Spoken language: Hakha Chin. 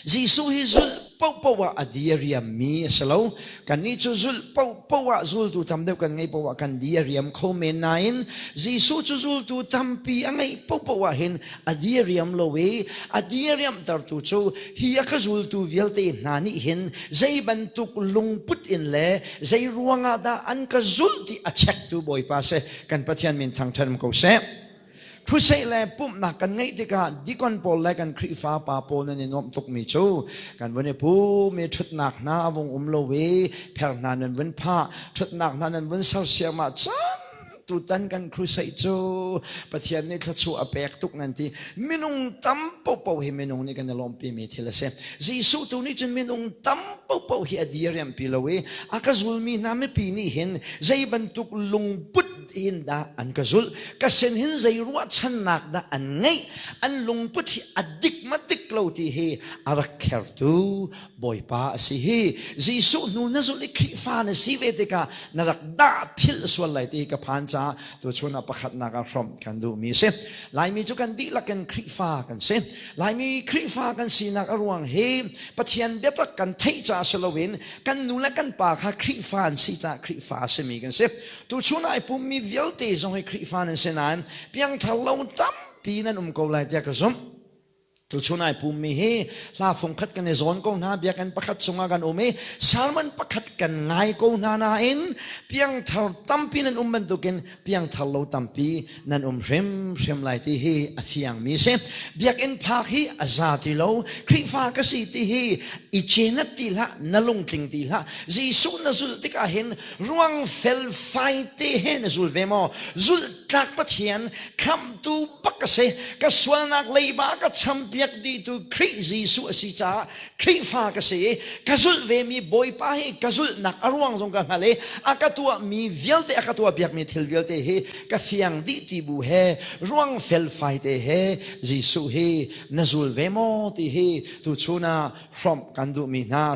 Jesuh hi zulh paohpaoh ah a di a riammi a si lo. Kannih cu zulh paohpaoh ah zultu tam deuh kan ngeih paoh ah kan di a riam kho men nain Jesuh cu zultu tampi a ngeih paohpaoh ah hin a di a riam lo i a di a riamhtertu cu hi a ka zultu vialte hna nih hin zei bantuk lungput in le zei ruangah dah an ka zulh ti a chektu Bawipa si. kan Pathian min thangṭhat ko seh. Thusei le pumhnak kan ngeih tikah dikon pawl le kan Khrihfa pa pawl nan i nuamh tukmi cu kan vun i pum i ṭhutnak hna a vung um lo i pher hna nan vun phah, ṭhutnak hna nan vun sersiamah cang tutan kan crusade cu Pathian nih thluachuah a pek tuk nan ti minung tam popo hi minung nih kan i lawmpi mi thil a si Jesuh tu nih cun minung tam popo hi a diriampi lo i A ka zulmi hna mipi nih hin zei bantuk lungput hin dah an ka zulh ka sin hin zei ruahchannak dah an ngeih an lungput hi a dik madik lo ti hi a rak khertu bawipa a si hi Jesuh hnu na zulh i Khrihfa na si ve tikah na rak dah thil sual lai ti ka phan ca tu chun a pakhatnak ah hrawmh kan duhmi a si Laimi cu kan dihlak in Khrihfa kan si Laimi Khrihfa kan sinak a ruang hi Pathian biatak kan theih caah si loin kan nu le kan pa kha Khrihfa an si caah Khrihfa a simi kan si. Tuchun ai pummi vialte zong hi Khrihfa nan si nain piangthar lo tampi nan um ko lai tiah ka zumh. Tuchun ai pummi hi hla fungkhat kan i zawn ko hna, biakinn pakhat chungah kan um i sermon pakhat kan ngai ko hna nain piangthar tampi nan um bantukin piangthar lo tampi nan um hrimhrim lai ti hi a fiang mi si biakinn phak hi a za ti lo khrihfa ka si ti hi i cenat ti hlah na lungtling ti hlah jesuh na zul tikah hin ruang felfai te he na zul ve maw zul tlak pathian khamtu bak ka si ka sualnak leiba ka champiak di tu khrih jesuh a si caah Khrihfa ka si ka zulh ve mi Bawipa hi ka zulhnak a ruang zong ka hngal i a ka tuah mi vialte a ka tuah biak mi thil vialte hi ka fiang dih ti bu he ruang felfai te he Jesuh hi na zul ve maw ti hi tu chun ah hrawmh kan duh mi hna